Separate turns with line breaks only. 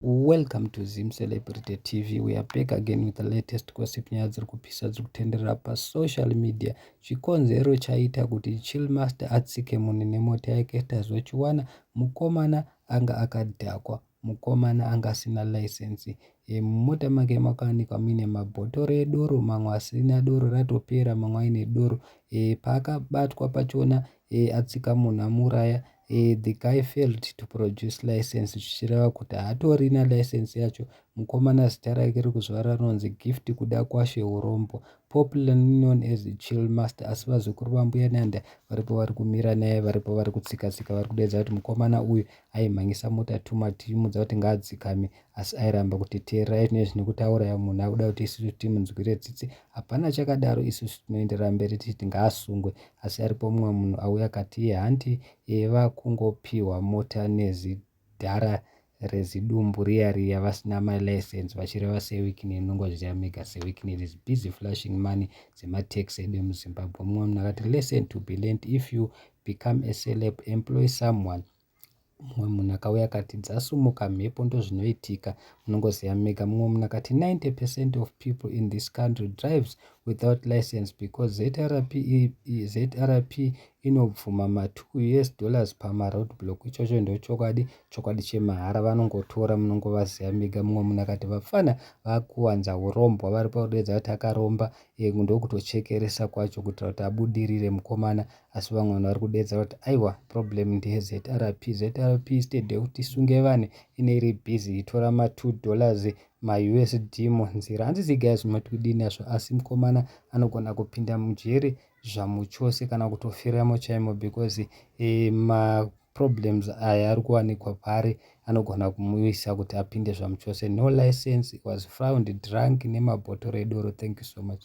Welcome to Zim Celebrity TV. We are back again with the latest gossip nyaya dziri kupisa dziri kutenderera pasocial media. Chikonzero chaita kuti Chillmaster atsike munhu nemota yake tazochiwana mukomana anga akadhakwa mukomana anga asina license e, mumota make makawanikwa muine mabhotoro edoro mamwe asina doro ratopera mamwe aine doro e, paakabatwa pachona eh, atsika munhu amuuraya eh, the guy failed to produce license zvichireva kuti haatorina license yacho mukomana zita rake rekuzvara rinonzi gift kuda kwashe urombo popularly known as chill master asi vazukuru vambuya nanda varipo vari kumira naye varipo vari kutsikatsika vari kudedza kuti mukomana uyu aimhanyisa mota tuma tichimudza kuti ngaadzikame asi airamba kuti teererai tine zvine kutaura munhu akuda kuti isusu timunzwire tsitsi hapana chakadaro isusu tinoenderera mberi tichiti ngaasungwe asi aripo mumwe munhu auya kati iye hanti iye vakungopiwa mota nezidhara rezidumbu riya riya vasina malicense vachireva sewikini inongozviziva mega sewikini it is busy flashing money dzematax edu emuzimbabwe mumwe munhu akati lesson to be learned if you become a celeb employ someone mumwe munhu akauya akati dzasumuka mhepo ndozvinoitika munongoziva mega mumwe munhu akati 90 percent of people in this country drives without license because zrp zrp inobvuma ma2 us dollars pamaroad block ichocho ndochokwadi chokwadi chemahara vanongotora munongovaziva mega mumwe munhu akati vapfana vakuwanza urombwa vari pakudeedza kuti akaromba eh, ndokutochekeresa kwacho kuitira kuti abudirire mukomana asi vamwe vanhu vari kudeedza kuti aiwa problem ndeyezrp zrp stead yekuti sunge vanhu ine iri busy itora ma2 dollars mausd munzira hanzi zigaya zvinoti kudini azvo asi mukomana anogona kupinda mujeri zvamuchose kana kutofiramo chaimo because eh, ma problems aya ari kuwanikwa paari anogona kumuisa kuti apinde zvamuchose no license was found drunk nemabhotoro edoro thank you so much